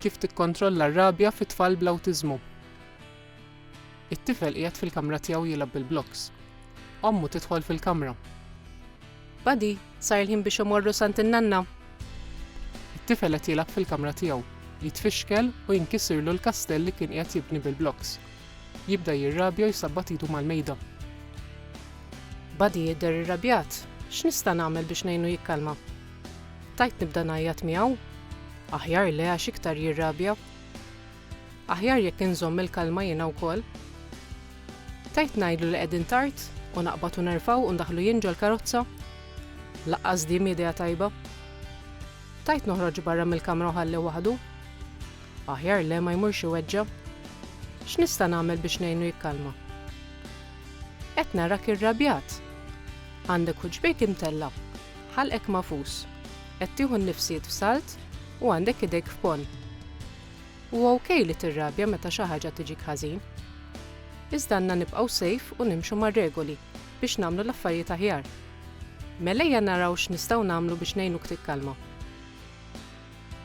Kif tikkontrolla r-rabja fi tfal bl-awtiżmu? It-tifel qiegħed fil-kamra tiegħu jilgħab bil-blokks. Ommu tidħol fil-kamra. Buddy, sar il-ħin biex imorru s'għand in-nanna. It-tifel qed jilgħab fil-kamra tiegħu. Jitfixkel u jinkisirlu l-kastell li kien qiegħed jibni bil-blokks. Jibda jirrabja u jsabbat idu mal-mejda. Buddy jidher irrabjat. X'nista' nagħmel biex ngħinu jikkalma? Tajt nibda ngħajjat miegħu? Aħjar le għax iktar jirrabja. Aħjar jekk inżomm il-kalma jiena wkoll. Tajt ngħidlu li qegħdin tard u naqbad u nerfaw u ndaħlu jien ġol-karozza? Laqqas din idea tajba. Tajt noħroġ barra mill-kamra u ħalli waħdu? Aħjar le ma jmurx iweġġa. X'nista' nagħmel biex ngħinu jikkalma? Qed narak irrabjat. Għandek ħuġbejk imtella'. Ħalqek magħfus. Qed tieħu n-nifsiet f'salt u għandek idejk f'ponn. Huwa ok li tirrabja meta xi ħaġa tiġik ħażin. Iżda għandna nibqgħu safe u nimxu mar-regoli biex nagħmlu l-affarijiet aħjar. Mel ejja naraw x'nistgħu nagħmlu biex ngħinuk tikkalma.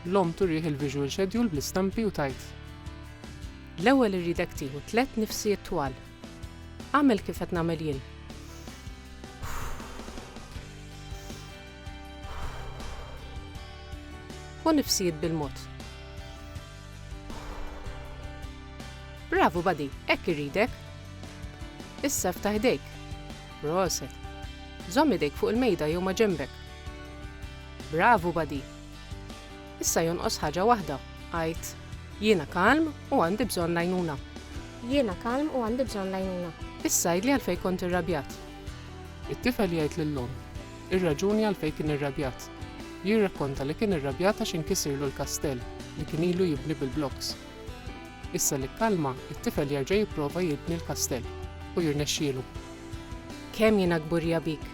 L-omm turih il-visual schedule bl-istampi u tgħid. L-ewwel irridek tieħu tliet nifsiet twal. Agħmel kif qed nagħmel jien. U nifsijiet bil-mod. Bravu badi, hekk irridek. Issa ftaħ idejk. Proset. Żomm idejk fuq il-mejda jew ma' ġembek. Bravu badi, Issa jonqos ħaġa waħda, għid, Jiena kalm u għandi bżonn l-għajnuna. Jiena kalm u għandi bżonn l-għajnuna. Issa għidli għalfejn kont irrabjat. It-tifel jgħid lill-omm ir-raġuni għalfejn kien irrabjat. Jirrakkonta li kien irrabjat għax inkisirlu l-kastell li kien ilu jibni bil-blokks. Issa li kkalma, it-tifel jerġa' jipprova jibni l-kastell u jirnexxielu. Kemm jiena kburija bik!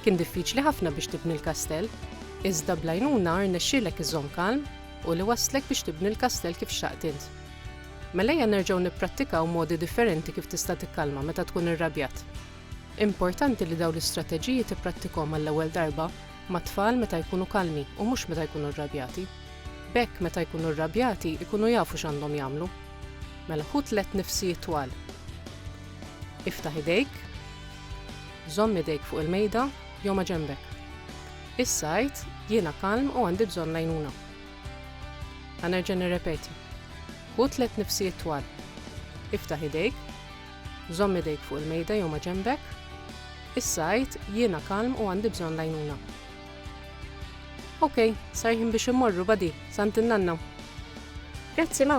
Kien diffiċli ħafna biex tibni l-kastell, iżda bl-għajnuna rnexxielek iżżomm kalm u li wasslek biex tibni l-kastell kif xtaqt int. Mela ejja nerġgħu nipprattikaw modi differenti kif tista' tikkalma meta tkun irrabjat. Importanti li dawn l-istrateġiji tipprattikhom għall-ewwel darba mat-tfal meta jkunu kalmi u mhux meta jkunu rrabjati. B'hekk meta jkunu rrabjati jkunu jafu x'għandhom jagħmlu. Mela ħu tliet nifsijiet twal. Iftaħ idejk. Żomm idejk fuq il-mejda jew ma' ġenbek. Issa għidt, Jiena kalm u għandi bżonn l-għajnuna. Ħa nerġa' nirrepeti. Ħu tliet nifsijiet twal. Iftaħ idejk. Żomm idejk fuq il-mejda jew ma' ġenbek. Issa għidt, Jiena kalm u għandi bżonn l-għajnuna. Okej, sar ħin biex immorru, badi, sant in-nanna. Grazzi, ma.